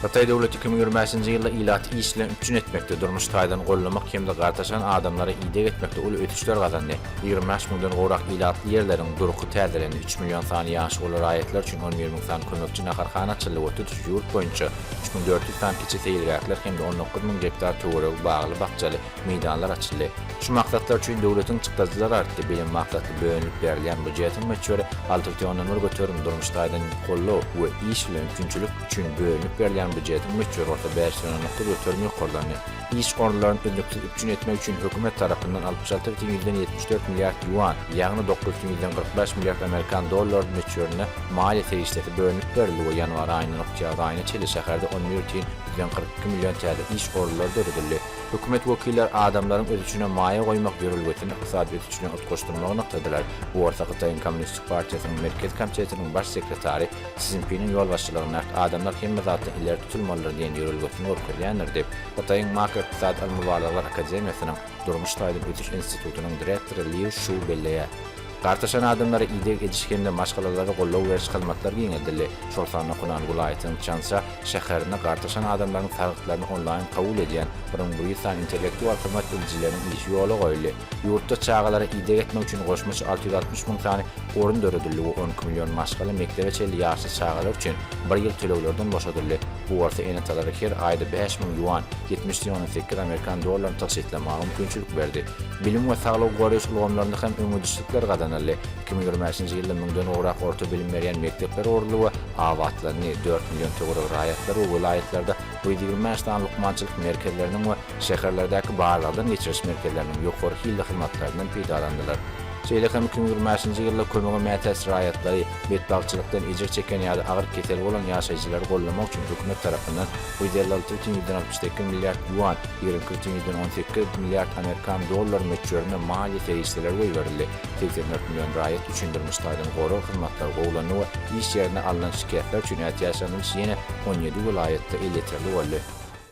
Hytaý döwleti iki müň ýigrimi bäşinji ýylda ilaty iş bilen üpjün etmekde, durmuş taýdan gollamak hem-de gartaşan adamlara ideg etmekde uly ösüşler gazandy. Ýigrimi bäş müňden gowrak ilatly ýerleriň durky täzelendi, üç million sany ýaşy uly raýatlar üçin on bir müň sany kömekçi naharhana açyldy we tutuş ýurt boýunça üç müň dört ýüz sany kiçi seýilgähler hem-de on dokuz müň gektar töweregi bagly-bakjaly meýdanlar açyldy. Şu maksatlar üçin döwletiň çykdajylary artdy. Bilim maksatly bölünip berlýän býujetiň möçberi alty bütin ondan bir göterim, durmuş taýdan gollaw we iş bilen üpjünçilik, üçin bölünip berilýän býujetiň möçberi bolsa bäş ýüz on dokuz göterim ýokarlandy. Iş orunlaryny üznüksiz üpjün etmek üçin hökümet tarapyndan altmyş alty bütin ýüzden ýetmiş dört milliard ýuan, ýagny dokuz bütin ýüzden kyrk bäş milliard amerikan dollary möçberinde maliýe serişdesi bölünip berildi we ýanwar aýyndan oktýabr aýyna çenli şäherde on bir bütin ýüzden kyrk iki million täze iş orunlary döredildi. Hökümet wekilleri adamlaryň öz üçine maýa goýmak ýörelgesini ykdysady ösüş bilen utgaşdyrmagy nygtadylar. Bu bolsa Hytaýyň Kommunistik partiýasynyň Merkez komitetiniň baş sekretary, Szinpiniň ýolbaşçylygyndaky adamlar hemme zatdan ileri tutulmalydyr diýen ýörelgesini görkezýändir diýip, Hytaýyň Makroykdysady ylmy-barlaglar akademiýasynyň Durmuş taýdan ösüş institutynyň direktory Liu Şu belleýär. Gartaşan adamlara ideg ediş hem-de maşgalalara goldaw beriş hyzmatlary giňeldildi, şol sanda Hunan welaýatynyň Çansa şäherinde gartaşan adamlaryň salgytlaryny onlaýn kabul edýän Brungbrissan intellektual hyzmat edijileriniň işi ýola goýuldy. Ýurtda çagalara ideg etmek üçin goşmaça alty ýüz altmyş müň sany orun döredildi we on iki million maşgala mekdebe çenli ýaşly çagalar üçin bir ýyl töleglerden boşadyldy, bu bolsa ene-atalara her aýda bäş müň ýuan, ýetmiş üç ondan sekiz amerikan dollaryny tygşytlamaga mümkinçilik berdi. Bilim we saglygy goraýyş ulgamlarynda hem öňegidişlikler gazanyldy. Iki müň ýigrimi bäşinji ýylda müňden gowrak orta bilim berýän mekdepler guruldy we abatlandy, dört million töweregi raýatlar we welaýatlarda bu ýüz ýigrimi bäş sany lukmançylyk merkezleriniň we Şäherlerdäki barlagdan geçiriş merkezleriniň ýokary hilli hyzmatlaryndan peýdalandylar. Şeýle hem iki müň ýigrimi bäşinji ýylda kömege mätäç raýatlary, betbagtçylykdan ejir çeken ýa-da agyr kesel bolan ýaşaýjylary gollamak üçin hökümet tarapyndan ýüz elli alty бүтin ýüzden altmyş sekiz milliard ýuan, ýigrimi iki бүтin ýüzden on sekiz milliard amerikan dollary möçberinde maliýe serişdeleri goýberildi. Segsen dört million raýat üçin durmuş taýdan gorag hyzmatlary gowulandy we iş ýerinde alnan şikesler üçin ätiýaçlanylyş ýene on ýedi welaýatda elýeterli boldy.